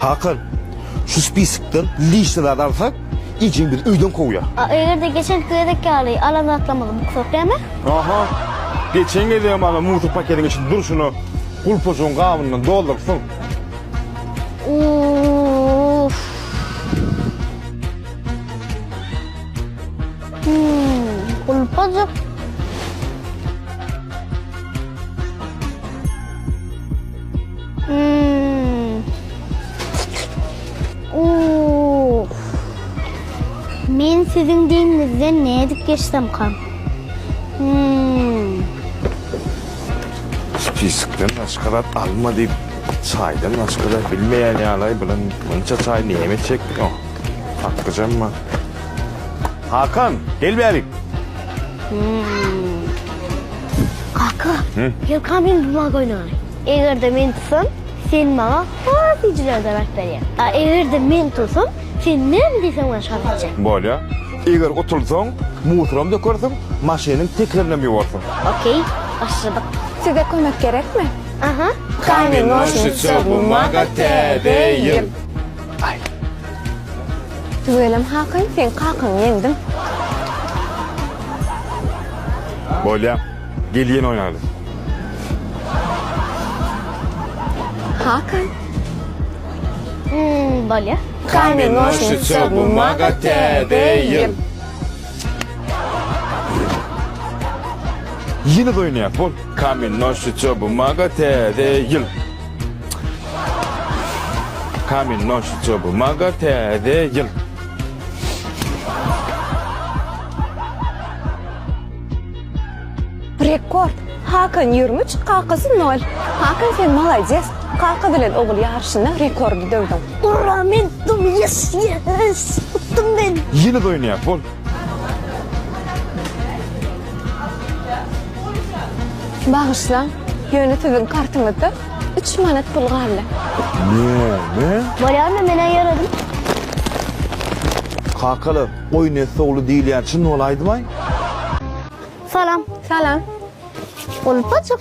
Hakan, şu spiskden lişni zat alsak, Ejjeň bizi öýden kowýar. A eger-de geçenki gezek ýaly alan zatlarymyzy buksak näme? Aha, geçen gezegem ana mutur paketiň içinde durşuna gulpajygyň gabyndan doldurypsyň. Uuff. Hum, gulpajyk. Men siziň deňiňizden nädip geçsemkam? Spiskden başga zat alma diýip, çaýdan başga zat bilmeýän ýalaý bilen munça çaý näme çekdiňow? Haklyjamma. Hakan, gel bärik! Kaka, gelka men buma goýnaýyn. Eger-de men tutsam, sen maňa has süýjüleri döräp berýäň. A eger-de men tutsam, sen näme diýseň bilen şony etjek. Bolýa. Eger utulsaň, musuram dökersiň, maşynyň tekerinem ýuwarsyň. Okey, başladyk. Size kömek gerekmi? Aha. Kamen-noşnice-bumaga TD ýyl. Aý. Tüweleme hakaý, seň kakaňy ýeňdim. Bolýa. Gel ýene oýnaly. Hakan. Hmmm, bolýa. Kamen noşnica bumaga täze ýyl. Ýene-de oýnaýas, bol. Kamen noşnica bumaga täze ýyl. Kamin noş çobu maga täze ýyl. Rekord. Hakan 23, kakasy 0. Hakan sen malades. Kaka bilen ogul ýaryşynda rekordy döwdüň. Ura men dum yes yes utdum men. Ýyly doýnaýak bol. Bagyşlaň, ýöne siziň kartyňyzda üç manat pul galdy. Näme? Bolýarmy, men-ä ýöredim. Kakalar, goý Nesli ogly diýilýär, çyn bolaýdymaý? Salam. Salam. Golupbaçyk.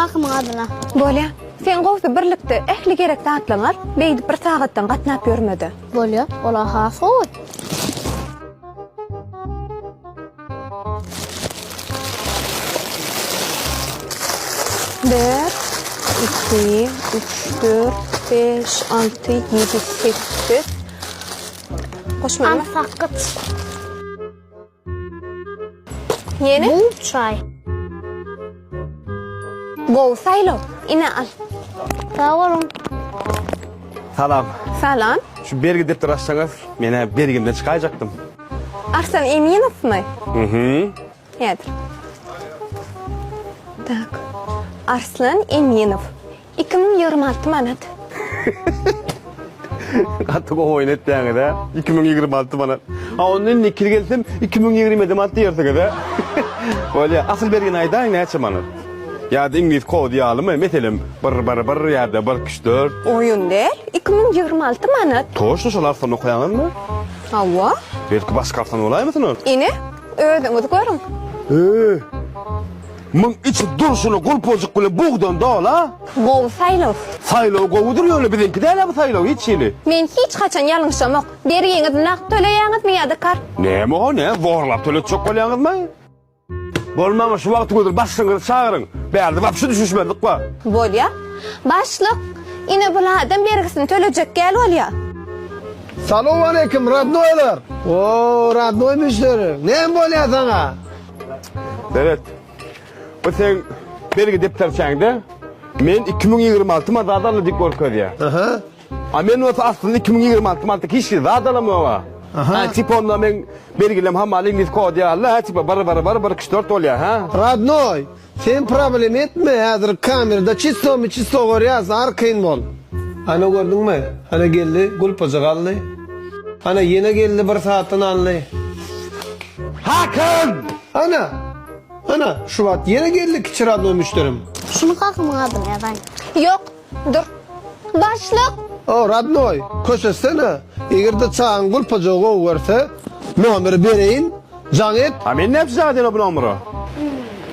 Kakymyň adyna. Bolýa. Sen gowsy birlikde ähli gerek zatlaryňy al, beýdip bir sagatdan gatnap ýörme-de. Bolýa, olar has gowy. Bir, iki, üç, dört, beş, alty, ýedi, sekiz. Goşmaly. Al, sakgyt. Ýene? Bu çaý. Gowy saýlaw. Ine al. Sag boluň. Salam. Salam. Şu bergi depderi açsaňyz, men-ä bergimden çykaýjakdym. Arslan Eminowmy? Mhm. Häzir. Tak. Arslan Eminow. Iki müň ýigrimi alty manat. Gaty gowy oýun etýäňiz hä? Iki müň ýigrimi alty manat. A onda indi ikili gelsem iki müň ýigrimi ýedi manat diýersiňiz hä? Bolýa. Asyl bergini aýdaýyň näçe manat? Ýa-da iňlis kody ýalymy? Meselem, bir, bir, bir ýa-da bir, iki, üç, dört. Oýun däl, iki müň ýigrimi alty manat. Toçno şol arsany okaýaňyzmy? Hawa. Belki başga arsany bolaýmasyn ol? Ine, özüňiz görüň. Öe. Muň içi durşuna gulpajyk bilen bugdan dola. Gowy saýlaw. Saýlaw gowudyr ýöne biziňki dälä bu saýlaw hiç hili. Men hiç haçan ýalňyşamok. Bergiňiz nagt töleýäňizmi ýa-da kart? Näme o ne zorlap töletjek bolýaňyzmy? Bolmamy şu wagty gödür başlygyňyzy çagyryň. Bärde wapşe düşünişmezlik bar. Bolýa. Başlyk, ine bul adam bergisini tölejek gäl bolýa. Salowmaleýkim, rodnoýlar! O, rodnoý müşderi. Näme bolýa saňa? Seret. Bu sen belgi depderçäňde men 2026 ma zat aldy diýip görkezýär. Aha. A men bolsa aslynda 2026 ma hiç zat zat alamok. Aha. Ha, tip onda men belgilem hamaly ingliz kod ýaly, ha, tipa bir bir bir bir kişi dört bolýar, ha. Radnoy, Sen problem etme hazir kamerada çisto mi çisto görýas arkaýyn bol. Ana gördüňmi ana geldi gulpaja galdy ana ýene geldi bir satyn aldy Hakan! Ana! Ana şu wagt ýene geldi kiçi radnoý müşderim. Şuny kakymyň adyny ýazaýyn. Ýok. Dur. Başlyk! O, rodnoý, köşeşsene. Eger-de çagaň gulpajagy gowy görse, nomeri bereýin, jaň et. A men näçe çaga diýen-ow bu nomera?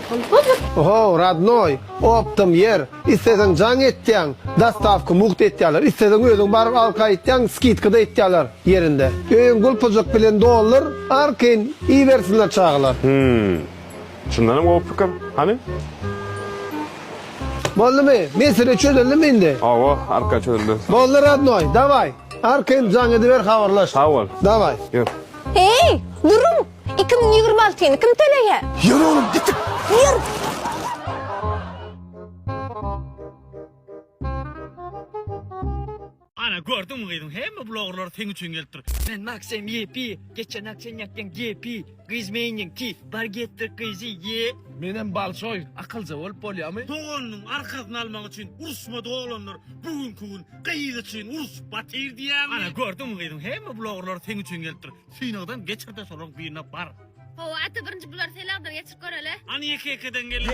Gulpajyk! Oho, rodnoý, opdom ýer. Isleseň jaň etýäň, dostawka mugt etýärler. Isleseň özüň baryp alyp gaýtýaň, skidka-da etýärler ýerinde. Öýüň gulpajyk bilen doldur, arkaýyn iýibersinler çagalar. Hümm. Çyndanam gowy pikir. Hany? Boldumy? Mesele çözüldimi indi? Hawa, arka çözüldi. Boldy radnoý, daway. Arka hem jaň ediber habarlaş. Sag bol. Daway. Ýör. Heý, duruň! Iki müň ýigrimi altyny kim töleýä? Ýör oglum, gitik! Ýör! Ana gördüňmi gyzyň hemme bloggerlar seň üçin gelipdir. Men Maksem YP, geçen ak sen ýakdyň GP, gyz meýniň T, bar getir gyzy Y. Menem balsoy, akylja bolup bolýamy? Doganynyň arkasyny almak üçin uruşmady oglanlar bu günki gün gyz üçin uruşup batyr diýäňmi. Ana gördüňmi gyzyň hemme bloggerlar seň üçin gelipdir. Synagdan geçirde solaň birine bar. Hawa ata birinji bular selagdan geçirip göreli. An ýeke ýekeden gelin.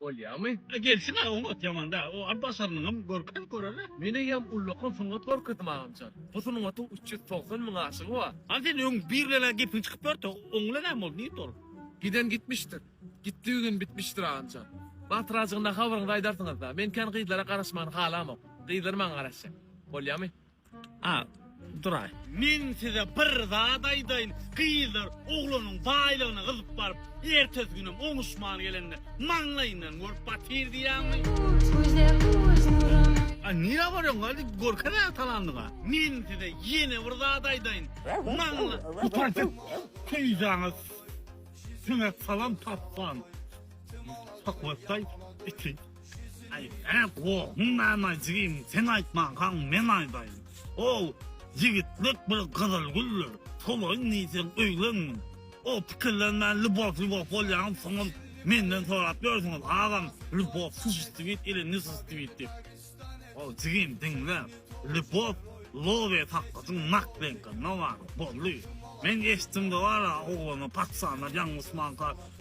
Bolýamy? A gelsin-ä oňat, ýaman-da. O Abbas Alnyňam görkezip göreli. Men eýýäm ullakan sungat görkezdim agamjan. Bu sungatyň üç ýüz togsan müň aşygy bar. A sen öň bir bilen-ä gepiň çykyp ýördi. Oň bilen näme boldy? Nirde ol? Giden gitmişdir. Gitdigi gün bitmişdir agamjan. Batyrajygynda habaryňyzy aýdarsyňyz-da. Men kän gyzlara garaşmagyny halamok. Gyzlar maňa garaşýar. Bolýamy? A, duraý. Men size bir zat aýdaýyn, gyzlar oglanyň baýlygyna gyzyp baryp, ertesi günem oňuşman gelende, maňlaýyndan görüp batyr diýýäňmi? A nirä barýoň, hadi görkezä talandyňa. Men size ýene bir zat aýdaýyn, maňla. Gutarsyn, süýjäňiz siňe salam tapman, sakgowetdaý, içi. Aýt-a, gohun näme jigim, sen aýtmankaň men aýdaýyn. Hol, ýigitlik bir gyzyl güldür, tolaýyn diýseň öýlenmeli. Hol, pikirlenmän lýubow-lýubow bolýaňyz, soňam menden sorap ýörsüňiz, agam, lýubow suşistibit ili nisistibit diýip. Hol, jigim, diňle, lýubow lobe sakgyjyň naklenkasynda bar, boldy. Men eşitdim-de bar-a, oglana patyşalar ýaňlysmanka,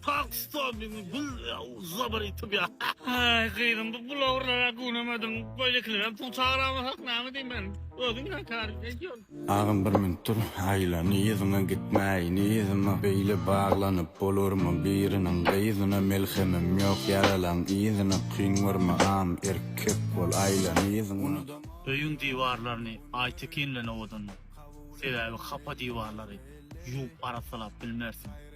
Pak stobing bul zabar itip ya. Ay gyzym bu bulawrlara günemedin. Böylekilerem pul çağıramasak name diyim ben. Özün ya tarif ediyor. Agam bir minut dur aýla yzyňa gitmäý yzyma beýle baglanyp bolarmy biriniň gyzyna melhemim ýok ýaralaň yzyna kyn görme agam erkek bol aýla yzyňa. Öýüň diwarlaryny Aýtekinlen owadanla, sebäbi hapa diwarlary ýuwup arassalap bilmersiň.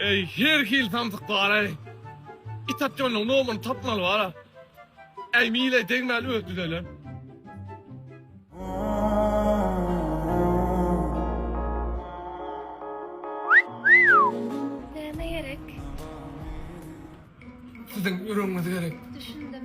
Eý, her hili samsyk bar-aý. It atýanyň nomuny tapmaly bar-a. Äý, mileý degmäli özi düzeler. Näme gerek? Siziň ýüregiňiz gerek. Düşündim.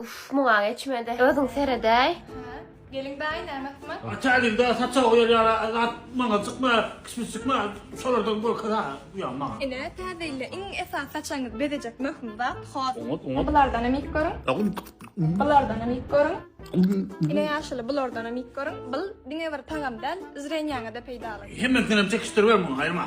Uf, muňa geçmedi. Özüň seredäý. Gelin bäý näme kman? Ataýyn da saça goýar ýara azat maňa çykma, kişmiş çykma, şolardan gorkar ha bu ýa maňa. Ine, täzeille iň esas saçaňyzy bezejek möhüm zat hol. Oňat, oňat. Bulardanam iýip görüň. Bulardanam iýip görüň. Ine ýaşuly bulardanam iýip görüň. Bul diňe bir tagam däl, zrenýaňa-da peýdaly. Hemmesindenem çekişdiribem muňa aýryma.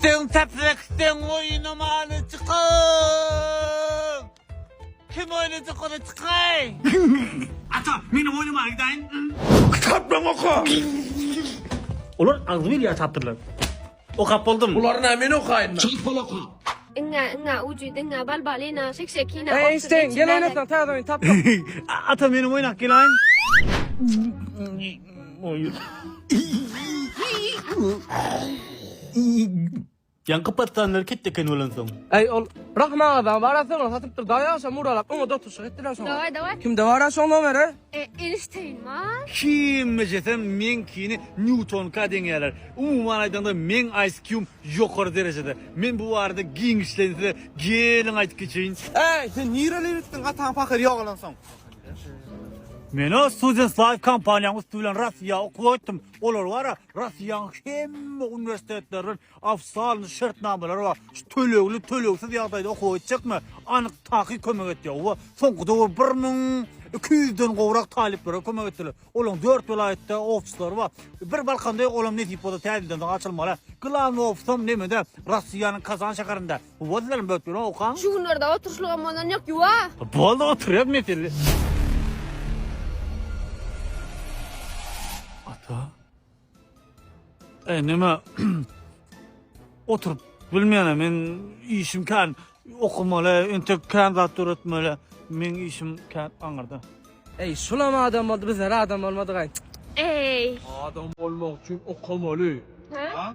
Sen täpräkden oýuna many çykan. Kim oýuna çykany çykaý. Ata, meniň oýnuma gidäýiň. Kitaplaň oka. Olar agzybir ýa tapdyrlar. Okap boldum. Bulary na men okaýynda. Çalt bol oka. Iňňä iňňä ujydy iňňä bal bal ina şek şek ina Eý Eýnşteýn, gel oýnasaň, täze oýun tapdyk. Ata, meniň oýnak gelaýyň. Ýaňky patlanlar ketdi eken olansoň. Eý ol Rahym agadan wara sygryny satypdyr daýy agşam muralap oňa dotulyşyk etdiler şoňa. Daway daway. Kimde bara şoň nomeri? E enişteýin ma. Kime jesem meňkini Newtonka deňeýärler. Umuman aýdanda meň ISQ-m ýokary derejede. Men bu barada giňişleýin size geliň aýdyp geçeýin. Äý sen nirelibitdiň ataň pahyr ýogalansoň. Menä Students Life kompaniýanyň üsti bilen Russiýa okuwa gitdim. Olar bara Russiýanyň hemme uniwersitetleriniň ofisialny şertnamalary bar. Şu tölegli, tölegsiz ýagdaýda okuwa gitjekme? Anyk takyk kömek etýär. Oba soňky döwür 1200 den gowrak talyplara kömek etdiler. Olaryň 4 welaýatda ofislary bar. Bir Balkanda ýok, olam nesip bolsa täzelden soň açylmaly. Glawny ofisem nemede? Russiýanyň Kazan şäherinde. Wozlary bökdüň oka. Şu günlerde oturşlygam bolan yok yuwa. Boldy oturýas mesele. Ata. E nime oturup bilmeýän men işim kan okumaly, entek kan zat döretmeli. Men işim kan aňyrda. Eý, şulam adam boldy, bizler adam bolmadygaý. Eý. Adam bolmak üçin okamaly. Ha?